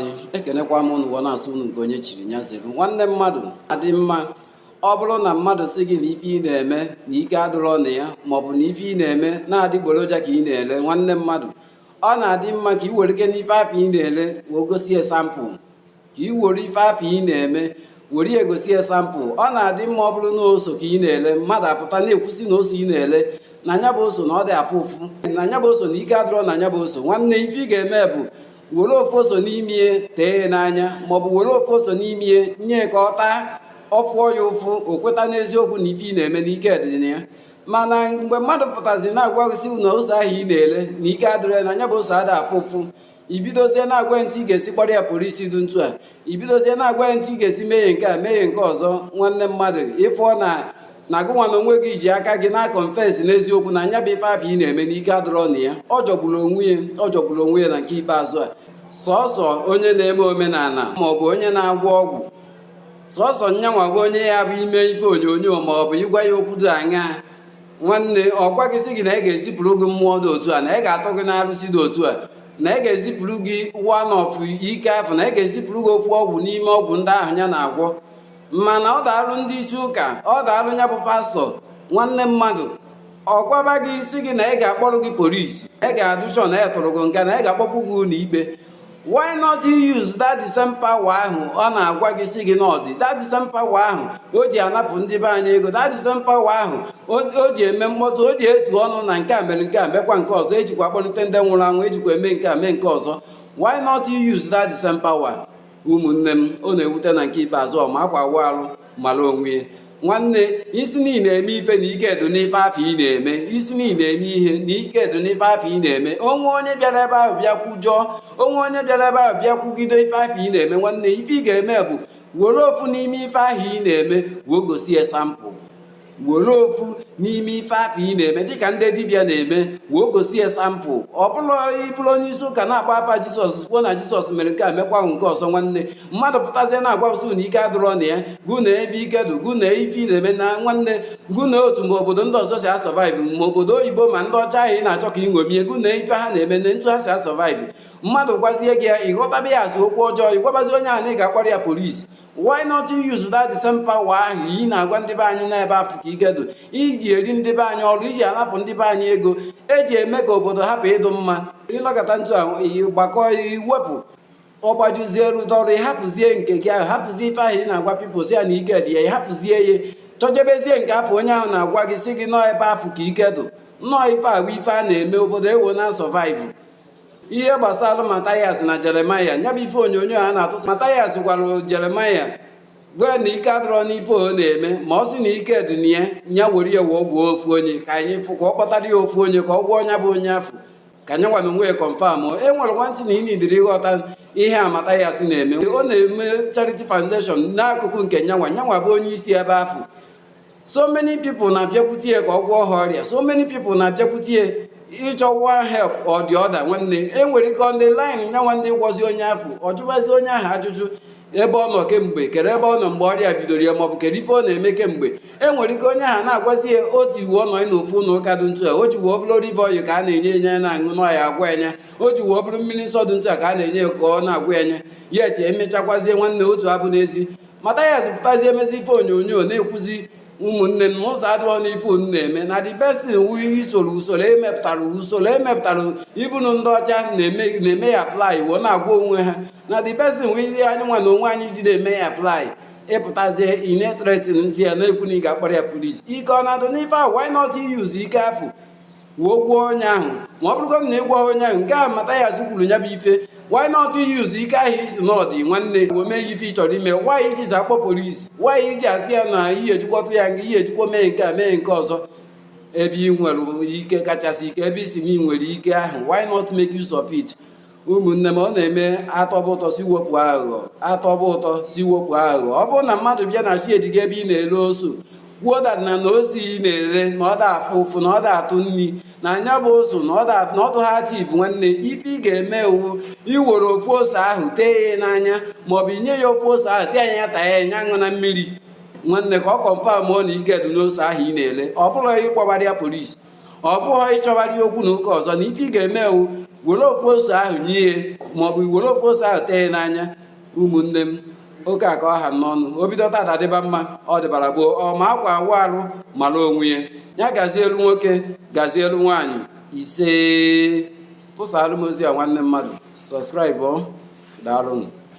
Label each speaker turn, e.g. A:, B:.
A: anyị ekenekwa m ụnụ na-asụ unu nke onye chiri nya zelu nwanne mmadụ adị mma ọ bụrụ na mmadụ sị gị na ife ị na-eme na ike adụrọ na ya maọbụ na ife ị na-eme na adịgboroja ka ị na-ele nwanne mmadụ ọ na-adị mma ka ị were ike n'ife afụ ị na-ele wee gosi ya sampụl ka ị were ife afụ ị na-eme were ya gosi ya sampụl ọ na-adị mma ọ bụrụ na oso ka ị na-ele mmadụ apụta na-ekwu sị na oso ị na-ele na nya bụ oso na ọ da afụ ụfụ na nya bụ oso na ike adịrọ na nya bụ oso nwanne ife ị ga-eme bụ were ofu oso n'ime ya tee ya n'anya maọbụ were ofu oso n'ime ya nye ka ọ taa ọ fụọ ya ụfụ o kweta n'eziokwu na ife ị na-eme na ike dị na ya mana mgbe mmadụ pụtazi na-agwa gị sị na ose ahụ ị na-ele na ike adịrọ ya na nya bụ ose ada afụ ụfụ i bidozie na-agwa ntụ ị ga-esi kpọrọ ya polisi dụ ntu a i bidozie na-agwa ya ntụ ị ga-esi mee nke a mee nke ọzọ nwanne mmadụ ị fụọ na na gụnwa na onwe gị ji aka gị na-akọnfesi n'eziokwu na nya bụ ife afụ ị na-eme na ike adụrọ na ya ọ jọgburu onwe ya ọ jọgburu onwe ya na nke ikpeazụ a sọsọ onye na-eme omenala ma ọ bụ onye na-agwọ ọgwụ sọsọ nyanwa bụ onye ya bụ ime ife onyonyo ma ọ bụ ịgwa ya okwu dị aṅaa nwanne ọ gwa gị sị gị na ya ga-ezipụrụ gị mmụọ dị otu a na ya ga-atụ gị n'arụsị dị otu a na ya ga-ezipụrụ gị one of ike afụ na ya ga-ezipụrụ gị ofu ọgwụ n'ime ọgwụ ndị ahụ ya na-agwọ mana ọ daalụ ndị isi ụka ọ daalụ ya bụ pastọ nwanne mmadụ ọ gwaba gị sị gị na ya ga-akpọrọ gị polisi ya ga-adụ shọ na a tụrụ gị nga na ya ga-akpọpụ gị ụlọ ikpe why not use that the same power ahụ ọ na-agwa gị sị gị na ọ dị that the same power ahụ o ji anapụ ndị be anyị ego that the same power ahụ o ji eme mkpọtụ o ji etu ọnụ na nke a mere nke a mekwa nke ọzọ e jikwa akpọlite ndị nwụrụ anwụ e jikwa eme nke a mee nke ọzọ why not use that the same power ụmụnne m ọ na-ewute na nke ikpeazụ ọ ma akwa awụ arụ mara onwe ya nwanne ị sị na ị na-eme ife na ike dụ n'ife afụ ị na-eme ị sị na ị na-eme ihe na ike dụ n'ife afụ ị na-eme o nwee onye bịara ebe ahụ bịa kwujọọ o nwee onye bịara ebe ahụ bịa kwugide ife afụ ị na-eme nwanne ife ị ga-eme bụ were ofu n'ime ife ahụ ị na-eme wee gosi example were ofu n'ime ife afụ ị na-eme dịka ndị dibịa na-eme wee gosi ya sampụl ọ bụrụ ị bụrụ onye isi ụka na-akpa afa jisọs kwuo na jisọs mere nke a mekwa nke ọzọ nwanne mmadụ pụtazie na-agwa gụ sụ na ike adụrọ na ya gụ na ebe ike dụ gụ na ife ị na-eme na nwanne gụ na otu ma obodo ndị ọzọ si asọvaịvụ ma obodo oyibo ma ndị ọcha ahụ ị na-achọ ka ị ṅomie gụ na ife ha na-eme na ntu ha si asọvaịvụ mmadụ gwazie gị ya ị ghọtaba ya as okwu ọjọọ ị gwabazi onye ahụ na ị ga-akpọrọ ya polisi why not use that the same power ahụ ị na-agwa ndị be anyị na ebe afụ ka ike dụ i ji eri ndị be anyị ọrụ i ji anapụ ndị be anyị ego eji eme ka obodo hapụ ịdụ mma ị nọkata ntu ahụ ị gbakọ i wepụ ọ gbajuzie rute ọrụ ị hapụzie nke gị ahụ hapụzie ife ahụ ị na-agwa pipụl sị ya na ike dị ya ị hapụzie ya chọjebezie nke afụ onye ahụ na-agwa gị sị gị na ọ ebe afụ ka ike dụ na ọ ife agwa ife a na-eme obodo ewee na survive ihe gbasara Mathias na Jeremiah ya bụ ife onyonyo a na-atụsa Mathias gwara Jeremiah gwa na ike adịrọ n'ife ọ na-eme ma ọ sị na ike dị na ya nya were ya wee gwọọ ofu onye ka anyị fụ ka ọ kpọtara ya ofu onye ka ọ gwọọ onye bụ onye afụ ka nyanwa na onwe ya confirm e nwere one thing na ị nidiri ịghọta ihe a Mathias na-eme ọ na-eme charity foundation n'akụkụ nke nyanwa nyanwa bụ onye isi ebe afụ so many people na-abịakwute ya ka ọ gwọọ ha ọrịa so many people na-abịakwute ya ịchọ one help or the other nwanne e nwere ike on the line nyanwa ndị gwọzi onye afụ ọ jụwazi onye ahụ ajụjụ ebe ọ nọ kemgbe kere ebe ọ nọ mgbe ọrịa bidoro ya maọbụ kedu ife ọ na-eme kemgbe e nwere ike onye ahụ na-agwazi ya o ji wuo nọ n'ofu ụlọ ụka dị ntu a o ji wuo bụrụ olive oil ka a na-enye enye ya na-aṅụ na ọ ya-agwọ nya o ji wuo bụrụ mmiri nsọ dị ntu a ka a na-enye ya ka ọ na-agwọ nya yet emechakwazie nwanne otu abụ n'ezi Mathias pụtazie mezie ife onyonyo na-ekwuzi ụmụnne m na ụzọ adịrọ n'ife unu na-eme na the best thing wu isoro usoro emepụtara usoro emepụtara even ndị ọcha na-eme ya apply wee na-agwọ onwe ha na the best thing wu ihe anyị nwa na onwe anyị ji na-eme ya apply ị pụtazie ị na-ethreatenzi ya na-ekwu na ị ga-akpọrọ ya police ike ọ na-adụ n'ife ahụ why not use ike afụ wee gwọọ onye ahụ ma ọ bụrụgodị na ị gwọghị onye ahụ nke ahụ Mathias kwuru ya bụ ife why not use ike ahụ ị sị na ọ dị nwanne wee mee ife ị chọrọ ime why i jizi akpọ police why i ji asị ya na ihe ejikwa tụọ ya nga ihe ejikwa mee nke a mee nke ọzọ ebe ị nwere ike kachasị ike ebe ị sị na ị nwere ike ahụ why not make use of it ụmụnne m ọ na-eme atọba ụtọ sị wepụ aghụghọ atọba ụtọ sị wepụ aghụghọ ọ bụrụ na mmadụ bịa na shed gị ebe ị na-ere oso kwuo dat na na ose ị na-ere na ọ da afụ ụfụ na ọ da atụ nri na nya bụ oso na ọ dụghị active nwanne ife ị ga-eme wu iwere ofu ose ahụ tee ya n'anya maọbụ inye ya ofu ose ahụ sị nya taa ya nya aṅụna mmiri nwanne ka ọ confirmụọ na ike dị n'ose ahụ ị na-ere ọ bụrọ ịkpọbara ya police ọ bụghị ịchọbara ya okwu na ụka ọzọ na ife ị ga-eme wu were ofu ose ahụ nye ya maọbụ were ofu ose ahụ tee n'anya ụmụnne m oke a ka ọ ha n'ọnụ o bido tata dịba mma ọ dịbara gboo ọ ma akwa awụ arụ mara onwe ya ya gazielu nwoke gazielu nwaanyị isee tụsaalụ m ozi a nwanne mmadụ subscribe daalụnụ